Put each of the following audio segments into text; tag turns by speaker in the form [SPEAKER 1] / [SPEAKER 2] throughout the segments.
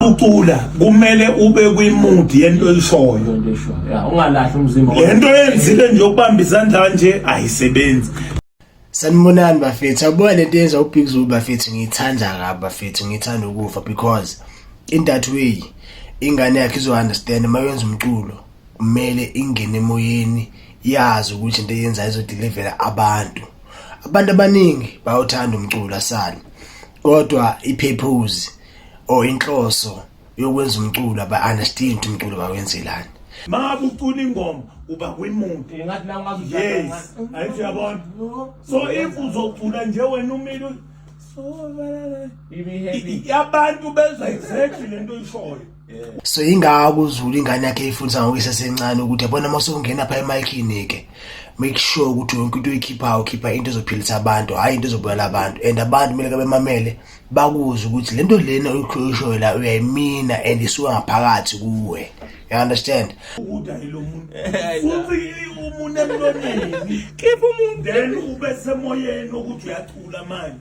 [SPEAKER 1] ucula kumele ube kwi-mood yento oyishoyo ungalahli
[SPEAKER 2] umzimba lento yenzile
[SPEAKER 1] nje ukubamba izandla kanje ayisebenzi
[SPEAKER 3] sanibonani bafethu abuya lento yenza ubig zulu bafethu ngiyithanda kabi bafethu ngiyithanda ukufa because in that way ingane yakhe izo-understand uma yenza umculo kumele ingene emoyeni yazi ukuthi into eyenzayo izodelivela abantu abantu abaningi bawuthanda umculo asale kodwa i-purpose or inhloso yokwenza umculo aba-understand ukuthi umculo bawenzelani ma kucula
[SPEAKER 1] ingoma uba kwimuti
[SPEAKER 2] yes ayithi
[SPEAKER 1] uyabona so if uzocula nje wena umile abantu bezwa exactly le nto oyishoyo so ingako
[SPEAKER 3] uzulu ingane yakhe ifundisa ngokuyise sencane ukuthi yabona uma sokungena pha emayikini ke make sure ukuthi yonke into oyikhiphayo ukhipha into ezophilisa abantu hhayi into ezobulala abantu and abantu kumele kabemamele bakuze ukuthi le nto lena oyishoyo la uyayimina and isuka ngaphakathi kuwe you understand
[SPEAKER 1] khipha umuntu then ube semoyeni wokuthi uyathula manje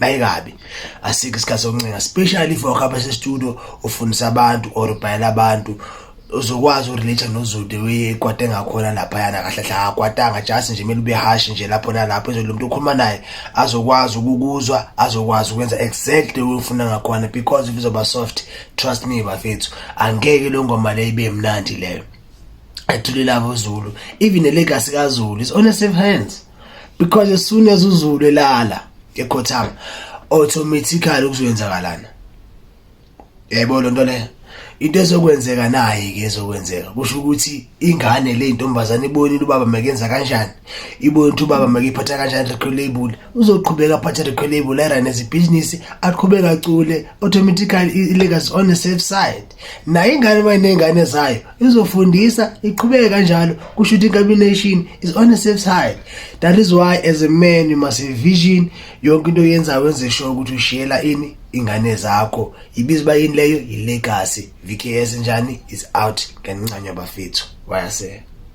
[SPEAKER 3] bayikabi asikho isikhathi sokuncenga especially if wakho apha sestudio ufundisa abantu or ubhalela abantu uzokwazi urelate nozude wekwate ngakhona lapha yana kahle hle akwatanga just nje mele ubehashi nje lapho nalapho ezolo umuntu ukhuluma naye azokwazi ukukuzwa azokwazi ukwenza exactly ufuna ngakhona because if uzoba soft trust me bafethu angeke lo ngoma le ibe mnandi leyo ethulile abo Zulu even the legacy ka Zulu is on a safe hands because as soon as uZulu elala ekhothama automatically kuzoyenzakalana yebo lo nto le into ezokwenzeka naye ke ezokwenzeka kusho ukuthi ingane le ntombazane ibonile ubaba makenza kanjani ibonile ukuthi ubaba makephatha kanjani record label uzoqhubeka aphathe record label erun as ibhizinisi aqhubeka acule automatically i-legacy on the safe side naye ingane uma iney'ngane zayo izofundisa iqhubeke kanjalo kusho ukuthi incombination is on the safe side that is why as a man you must have vision yonke into oyenzayo wenze sure ukuthi ushiyela ini ingane zakho ibiza uba yini leyo yi-legacy vks njani is out ngenincanyo bafethu wayasela